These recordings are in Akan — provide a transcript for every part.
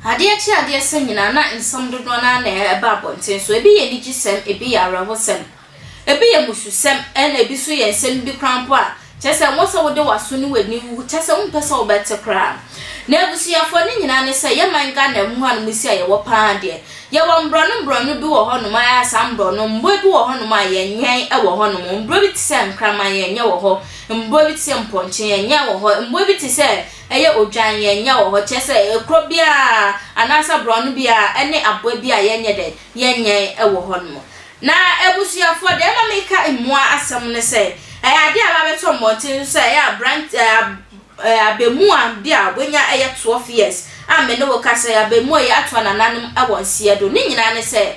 Adeɛ kye adeɛ sa nyinaa na nsɛm dodoɔ no ara na ɛba abɔnten so. Ebi yɛ anigyesɛm, ebi yɛ awerɛhosɛm. Ebi yɛ abususɛm ɛna ebi nso yɛ nsɛm bi koraa mpo a kyerɛ sɛ ɛwɔ sɛ wode w'aso ne w'ani wu, kyerɛ sɛ wompɛ sɛ wobɛte koraa. Na abusuafoɔ ne nyinaa ne sɛ yɛ man Ghana mu ha no mu si a yɛwɔ pa ara deɛ, yɛwɔ mborɔno mborɔno bi wɔ hɔ nom a ɛyɛ a saa mborɔno mboa bi wɔ hɔ nom a yɛnyɛn wɔ hɔ nom, mborɔ bi te sɛ nkraman yɛnyɛ wɔ hɔ, mborɔ bi te sɛ mpɔnkye yɛnyɛ wɔ hɔ, mboa bi te sɛ ɛyɛ odwan yɛnyɛ wɔ hɔ, kyerɛ sɛ kuro biara anaa sɛ borɔno biara ɛne aboa bi a yɛnyɛ dɛn yɛnyɛn wɔ hɔ nom. Na abusuafoɔ, deɛ ɛma meka mmoa asɛm ne sɛ, ɛyɛ adeɛ a wɔabɛtɔ mmɔnten so sɛ ɛyɛ aberant ɛɛ ab ɛɛ abɛmua bi a wanya ɛyɛ twelve years a me ne wo kasa yi, abɛmua yi ato anananom wɔ nseɛ do. Ne nyinaa ne sɛ,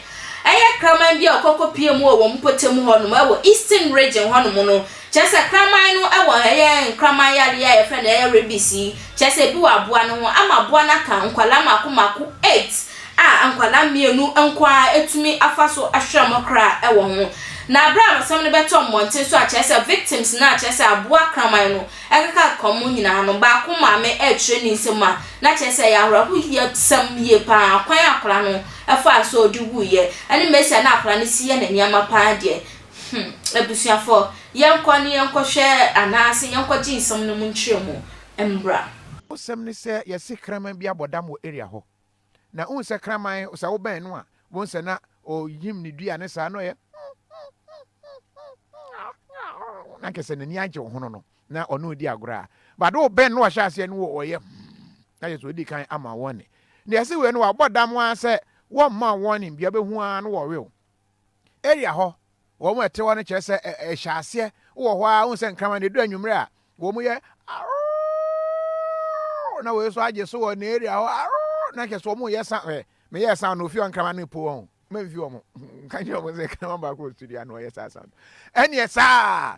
ɛyɛ kraman bi a ɔkɔ kɔpie mu wɔ wɔn mpɔtam hɔ nom wɔ Eastern Region hɔ nom no. Kyerɛ sɛ, kraman no wɔ ɛyɛ nkraman yareɛ a yɛfrɛ no ɛyɛ rabies yi, kyerɛ sɛ, ebi wɔ aboa no ho ama aboa no aka nkwadaa mmaako mmaako eight a nkwadaa mmienu nko ara atumi afa so ahwere wɔn kra wɔ ho. Na berɛ a asɛm no bɛtɔ mmɔnten so a, kyerɛ sɛ victims no a kyerɛ sɛ aboa kraman no keka kɔm mu nyinaa no, baako maame rekyerɛ ne nsam a, na kyerɛ sɛ ɛyɛ awerɛhoyɛsɛm yie pa ara, kwan a akwadaa no faa so a ɔde wuiɛ, ne mmerɛ si a na akwadaa no si yɛ ne nneɛma pa ara deɛ, hmm, abusuafoɔ, yɛnkɔ na yɛnkɔhwɛ anaasɛ yɛnkɔgye nsɛm no mu nkyerɛmu mmra. Asɛm ne sɛ yɛse kraman bi abɔ dam wɔ area hɔ, na wohu sɛ kraman sɛ wobɛn no a wohu sɛ na ɔyim ne dua ne saa na ɔyɛ na nkyɛ sɛ n'ani agye wo ho no no na ɔne odi agorɔ a bade wo bɛn no wahyɛ aseɛ no ɔyɛ na yɛ sɛ ɔdi kan ama wɔne na ɛsɛ wei no wabɔ dam ara sɛ wɔmma wɔne bia bɛhu ara no wɔwew area hɔ, wɔn a ɛte hɔ no kyerɛ sɛ ɛhyɛ aseɛ wɔ hɔ ara, wohu sɛ nkraman na ɛduru anwummerɛ a wɔn yɛ na wɔyɛ so agye so wɔ ne area hɔ na kyerɛ sɛ wɔn yɛ sa ɛ meyɛ sa na ofie nkraman no po wɔn mɛmfi wɔn nka kyerɛ wɔn sɛ nkraman baako wɔ studio a na wɔyɛ saa sa ɛneɛ saa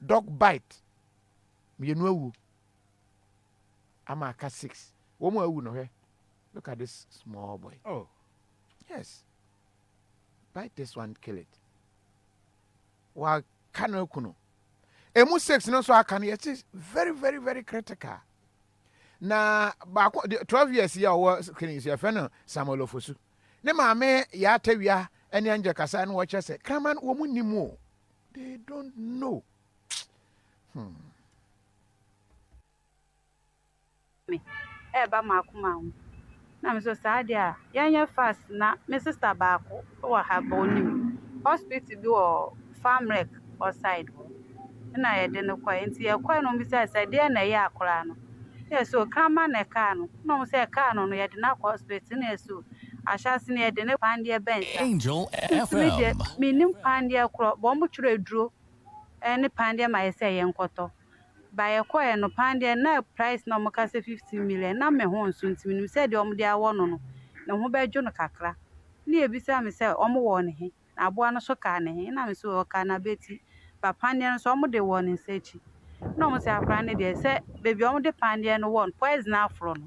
dog bite mmienu awu ama aka six wɔn mu awu no hwɛ look at this small boy oh yes bite this one kill it waka no aku no emu six no nso aka no yɛte very very very critical na baako twelve years yi a ɔwɔ kene nsu yɛfrɛ no samuel ofosu ne maame yɛ atawia ɛne angel kasa no wɔkyerɛ sɛ kraman wɔn mu nim o. They don't know. Hmm. Me, ɛreba m'akoma ho. Na me sɛ saa deɛ a, yɛnyɛ fast na me sista baako wɔ ha bɔ onim hospital bi wɔ Farmrec hɔ side hɔ. Ɛna yɛde no kɔe. Nti yɛkɔe no, wɔbisae sɛ deɛ na ɛyɛ akwadaa no. Yɛ so kraman na ɛkaa no na ɔhu sɛ ɛkaa no no yɛde no akɔ hospital na yɛ so ahyɛ ase na yɛde no kwan deɛ bɛn sa Angel since me deɛ FM. me nnim kwan deɛ korɔ but ɔmo twerɛ aduro ɛne pan deɛ ma yɛ sɛ yɛn kɔtɔ but yɛ kɔɛ no pan deɛ na price na ɔmo ka sɛ fifteen million na me ho nso nti me nim sɛ deɛ ɔmo de awɔ no no ne ho bɛ dwo no kakra na yɛ bisa me sɛ ɔmo wɔ no he. Na aboa no nso kaa ne he, na me se ɔkaa n'abati. Ba pandeɛ no nso, wɔde wɔ ne nsa akyi. Na wɔse akwadaa no deɛ, sɛ baabi a wɔde pandeɛ no wɔ no, poison aforo no.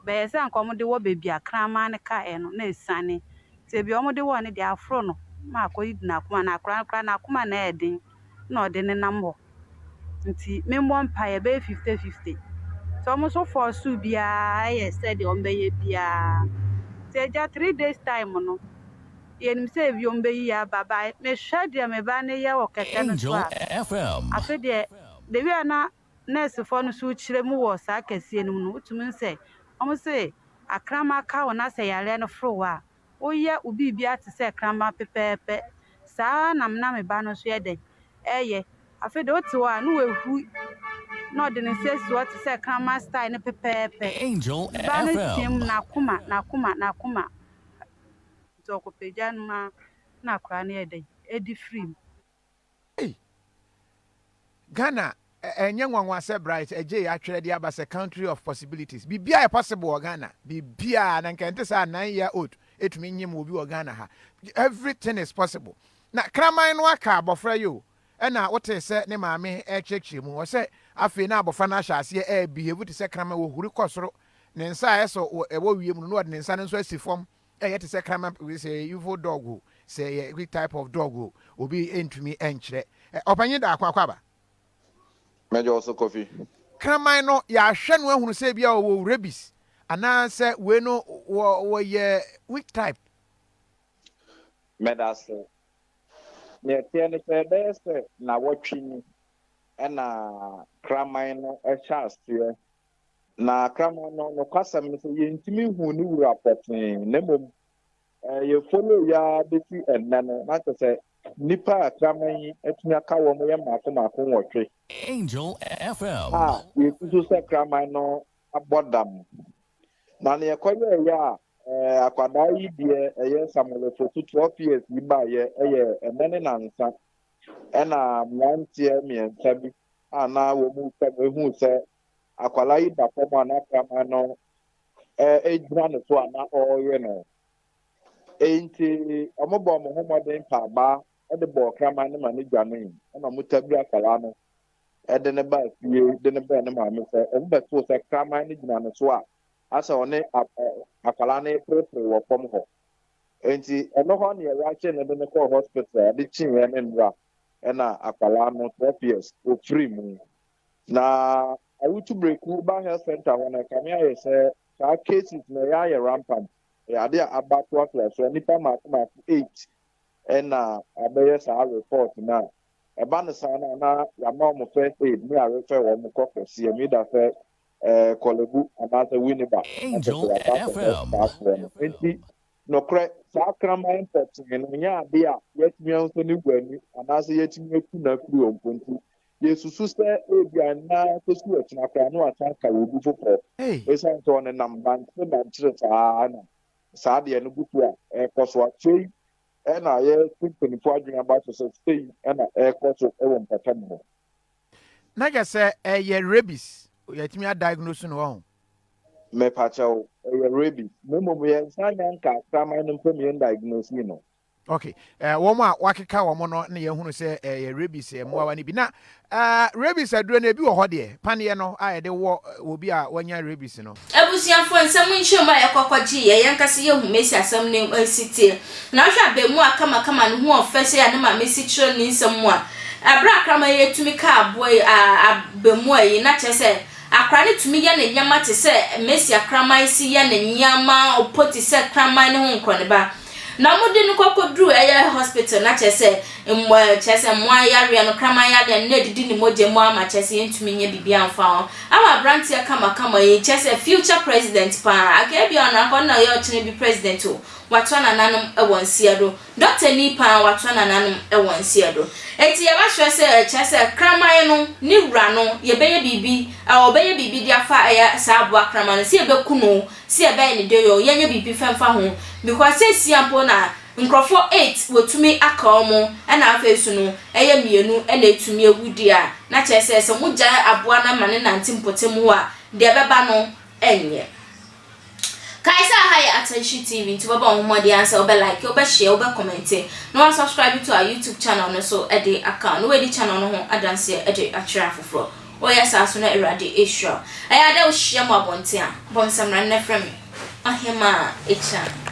Bɛyɛ sɛ anka wɔde wɔ baabi a kraman no kaeɛ no, na asiane. Nti baabi a wɔde wɔ no deɛ, aforo no ma akɔyi n'akoma. Na akwadaa no koraa, n'akoma na ɛyɛ den. na ɔde nenam hɔ nti memmɔ mpaeɛ ɛbɛyɛ fifty fifty nti wɔn nso force biara yɛ sɛdeɛ wɔbɛyɛ biara nti agya three days time no yɛnim sɛ ebi wɔn bɛyi yɛ aba ba mehwɛ deɛ me ba no yɛ wɔ kɛkɛ no so a afe deɛ the way a na nursefoɔ no so rekyerɛ mu wɔ saa kɛseɛ no mu no wotumi sɛ wɔn se akrama ka wo na sɛ yareɛ no foro wo a Woyɛ wo biribiara te sɛ kramma pɛpɛɛpɛ. Saa ara na me na me ba no nso yɛ dɛn? Ɛyɛ. Afei deɛ wote hɔ a, ne wahu na ɔde ne nsa si hɔ te sɛ kramma style no pɛpɛɛpɛ. Angel Me ba no team, FM. N'akoma, n'akoma, n'akoma. Nti ɔkɔpagya no ma na akwadaa no yɛ dɛn? Ɛdi firi mu. Ei! Ghana ɛnyɛ nwanwa sɛ Bright Adjei atwerɛ de aba sɛ country of possibilities. Biribiara yɛ possible wɔ Ghana. Biribiara. Na nka ɛnte saa a nine year old ɛtumi nyem obi wɔ Ghana ha. Everything is possible. Na kraman no aka abɔfra yi o. Ɛna wotee sɛ ne maame ɛrekyerɛkyerɛ mu. Ɔsɛ afei na abɔfra no ahyɛ aseɛ ɛrebehave te sɛ kraman. Ɔhuri kɔ soro. Ne nsa a ɛsɔ ɛwɔ wiem no na ɔde ne nsa no nso asi fam. Ɛyɛ te sɛ kraman p sɛ evil dog o sɛ ɛyɛ which type of dog o obi ntumi nkyerɛ. Ɛ Ɔpanyin Daako Akwaaba. Mɛgye wo so Kofi. Kraman no yɛahwɛ no ahunu sɛ ebia ɔwɔ rabies anaa sɛ wei no wɔ wɔyɛ which type. Medase. Nea ɛteɛ ne sɛ ɛbɛyɛ sɛ nnawɔtwe ni na kraman no hyɛ aseɛ Na kraman no nokwasɛm ne sɛ yɛntumi nhuu ne wura pɔtee na mmom yɛ follow yi ara bɛsi ɛnnɛ no na kyerɛ sɛ nnipa a kraman yi atumi aka wɔn yɛ mmaako mmaako nwɔtwe Angel FM. a yɛsusu sɛ kraman no abɔ dam. Na neɛ ɛkɔyɛɛyɛ a eh, akwadaa yi deɛ ɛyɛ Samuel Ofosu 12 years yi baeɛ ɛyɛ ɛnnɛ ne nansa ɛna mmeranteɛ mmiɛnsa bi a na wɔn retwa mu huu sɛ Akwadaa yi da fam a na kraman no gyina ne so a na ɔrewe no. Enti wɔbɔɔ wɔn ho mmɔden pa abaa de bɔɔ kraman no ma no dwanee. Ɛna wɔtabiri akwadaa no de no baa fie de no brɛɛ ne maame sɛ wɔbɛtoo sɛ kraman no gyina ne so a asɛ ɔne akwadaa no reperepere wɔ fam hɔ. Enti ɛno hɔ ne ɛrahyɛ no de no kɔɔ hospital a ade kyeeɛ ne nnora na akwadaa no 12 years ɔfirii mu. Na awotu breku ba health center hɔ no, ɛkame ayɛ sɛ saa cases no ɛyɛ ayɛ rampant. Ɛyɛ ade a aba toatoa so a nnipa mmaako mmaako eight ɛna abɛyɛ saa report no a ɛba no saa no a na yɛama wɔn first aid ne yɛarefɛ wɔn kɔ kɛseɛ mu either sɛ eh, Korle Bu anaasɛ Winneba ɛsɛ sɛ yɛakɔ akɔhwɛ saa soɔ no. Nti nokorɛ saa kraman pɔtee no nyɛ ade a yɛatumi ahu sɛ ne wura ni anaasɛ yɛatumi aku no akuro mpo nti Yesusu sɛ ebia na kosi ɔkyena koraa no wasan aka wɔ obi foforɔ. Esiane sɛ ɔnenam mankyere mankyere saa ara na saa adeɛ no gu so a ɛrekɔ so. Afei na yɛrete mpanimfoɔ adwene aba so sɛ sei na ɛrekɔ so wɔ mpɔtam hɔ. Na kyerɛ sɛ ɛyɛ rabies, yɛatumi a diagnose no, wahu? Mepa kyɛw, ɛyɛ rabies. Na mmom yɛnsan nyɛ anka kraman no mpo na yɛn diagnosee no. Ok, eh, wɔn a wakeka wɔn no na yɛhunu sɛ eh, yɛ rabies eh, mmoawa no bi. Na eh, rabies aduro no ebi wɔ hɔ deɛ, paneɛ no a yɛde wɔ eh, obi a wanya rabies no. Abusuafoɔ nsɛm nkyerɛmu a yɛkɔkɔ gye yɛ yɛn ankasa yɛ hu Mesi asɛm no eh, si teɛ. Na wohwɛ abɛɛmua kamakama ne ho ɔfɛ sɛ yɛ a ne maame si kyerɛ no ne nsɛm mu a, ɛberɛ a kraman yi tumi ka aboa yi ah, abɛɛmua yi, na kyerɛ sɛ akora no tumi yɛ ne nyɛma te sɛ Mesi akraman si yɛ ne nneɛma ɔpɔ ti sɛ kraman ne ho nkorɔneba. Na mo de no kɔ kɔ duru ɛyɛ hospital na kyerɛ sɛ mmoa eh, kyerɛ sɛ mmoa ayareɛ no kraman yareɛ no na ɛdidi ne mogya mu ama kyerɛ sɛ yɛntumi nyɛ biribi amfa ho ama aberanteɛ kamakama yi kyerɛ sɛ future president paa aka ebi a ɔno akɔ na ɔyɛ ɔkyena bi president o watoa nananom wɔ nseɛ do dɔkta ni paa watoa nananom wɔ nseɛ do eti yɛbɛhwɛ sɛ kyerɛ sɛ kraman no ne wura no yɛbɛyɛ biribi ɔbɛyɛ biribi de afa ɛyɛ saa aboa kraman no sɛ yɛbɛku no Si ɛbɛyɛ ne dɛ yoo yɛnyɛ biribi fɛ mfa ho because seesia mpo na nkorɔfoɔ eight wɔtumi aka wɔn ɛna afei nso no ɛyɛ mmienu ɛna ɛtumi awu deɛ a na kyerɛ sɛ sɛ mo gyae aboa no ma no nante mpɔtam hɔ a deɛ ɛbɛba no ɛnyɛ Kae sɛ aha yɛ Attention TV nti wobɛbɔ wo ho mmɔden ara sɛ wobɛ like, wobɛ share, wobɛ comment na wa subscribe to our YouTube channel no so de aka wo na wadi channel no ho adanseɛ de akyerɛ afoforɔ. Woyɛ saa so na Awurade ahyira wo. Ɛyɛ a dɛ wohyia mo abɔnten a, bɔ me samina na frɛ me Ɔhemaa Akyinnade.